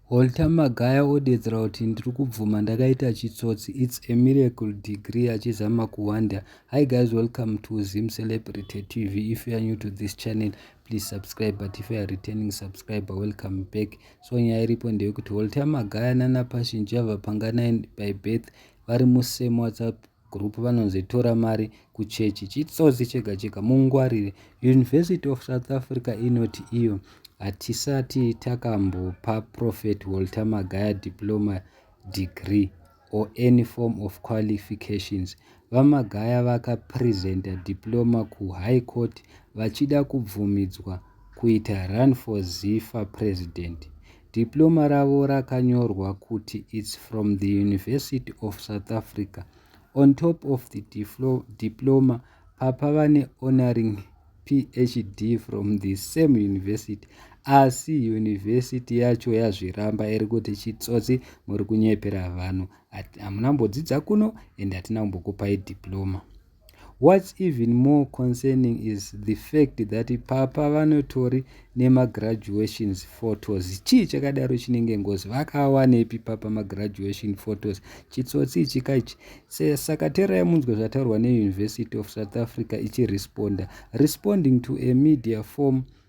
Walter Magaya odeedzera kuti ndiri kubvuma ndakaita chitsotsi it's a miracle degree achizama kuhwanda Hi guys welcome to Zim Celebrity TV if you are new to this channel please subscribe but if you are returning subscriber welcome back so nyaya iripo ndeyekuti Walter Magaya nana Passion Java Panganai by birth vari musame WhatsApp group vanonzi tora mari kuchechi chitsotsi chega chega mungwarire university of south africa inoti iyo hatisati takambopa prophet walter magaya diploma degree or any form of qualifications vamagaya vakapresenta diploma kuhigh court vachida kubvumidzwa kuita run for zifa president Diploma ravo rakanyorwa kuti it's from the University of South Africa. On top of the diploma, papa vane honoring PhD from the same university. Asi university yacho yazviramba iri kuti chitsotsi muri kunyepera vanhu. Hamuna mbodzidza kuno and hatina kumbokupai diploma. What's even more concerning is the fact that papa vanotori nemagraduations photos chii chakadaro chinenge ngozi vakawanepi papa magraduation photos chitsotsi ichi kaichi saka terai munzwe zvataurwa neuniversity of south africa ichiresponda responding to a media form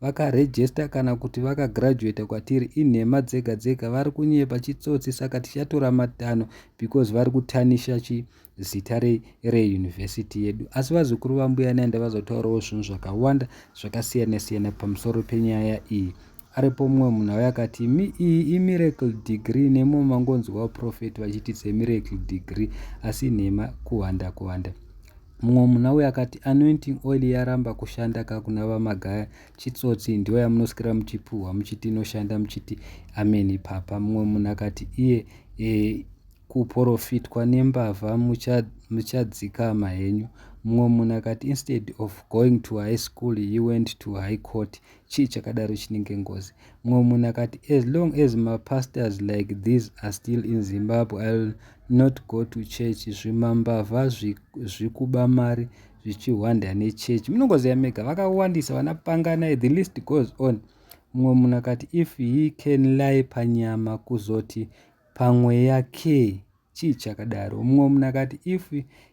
Vakarejesta kana kuti vakagraduata kwatiri inhema dzega dzega vari kunyepa chitsotsi saka tichatora matanho because vari kutanisha chi zita reyunivhesiti re yedu asi vazukuru vambuya nai ndavazotaurawo zvinhu zvakawanda zvakasiyana siyana pamusoro penyaya iyi aripo mumwe munhu auya akati imi iyi imiracle degree nemo mangonzwawo profeti vachiti semiracle degree asi nhema kuwanda kuwanda Mumwe munhu auya akati anointing oil yaramba kushanda ka kuna vamagaya chitsotsi ndiyo yamunosikira muchipuhwa muchiti inoshanda muchiti amen ipapa. Mumwe munhu akati iye e, kuporofitwa nembavha muchadzikama henyu. Mumwe munhu akati instead of going to high school he went to high court chii chakadaro chinenge ngozi mumwe munhu akati as long as mapastors like these are still in zimbabwe ill not go to church zvimambavha zvikuba mari zvichihwanda nechurch munongoziva mega vakawandisa vana panganai the list goes on mumwe munhu akati if he can lie panyama kuzoti pamweya key chii chakadaro mumwe munhu akati if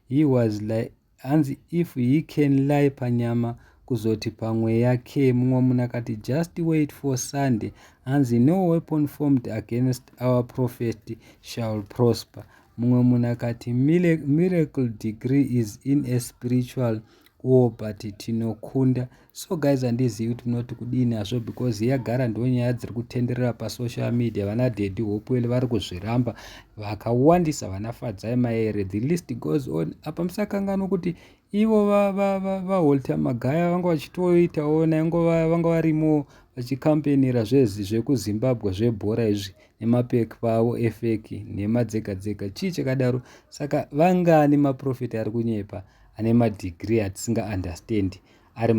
he was like Hanzi if he can lie panyama kuzoti pamweya ke mumwe munhu akati just wait for sunday hanzi no weapon formed against our prophet shall prosper mumwe munhu akati miracle degree is in a spiritual war but tinokunda so guys handizivi kuti munoti kudini hazvo because yagara ndo nyaya dziri kutenderera pasocial media vana dedi hopewell vari kuzviramba vakawandisa vana fadzai maere the list goes on apa musakanganwa kuti ivo vaholter va, va, va magaya vanga vachitoitawo naingova vanga varimo vachikampenira zvezi zvekuzimbabwe zvebhora izvi nemapeki pavo efeki nhema dzega dzega chii chakadaro saka vangani maprofeti ari kunyepa ane madhigiri atisinga understandi ari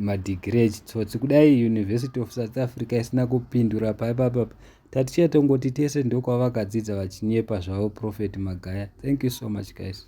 madhigiri echitsotsi kudai university of south africa isina kupindura paipapapa tatichatongoti tese ndokwavakadzidza vachinyepa zvavo prophet magaya thank you so much guys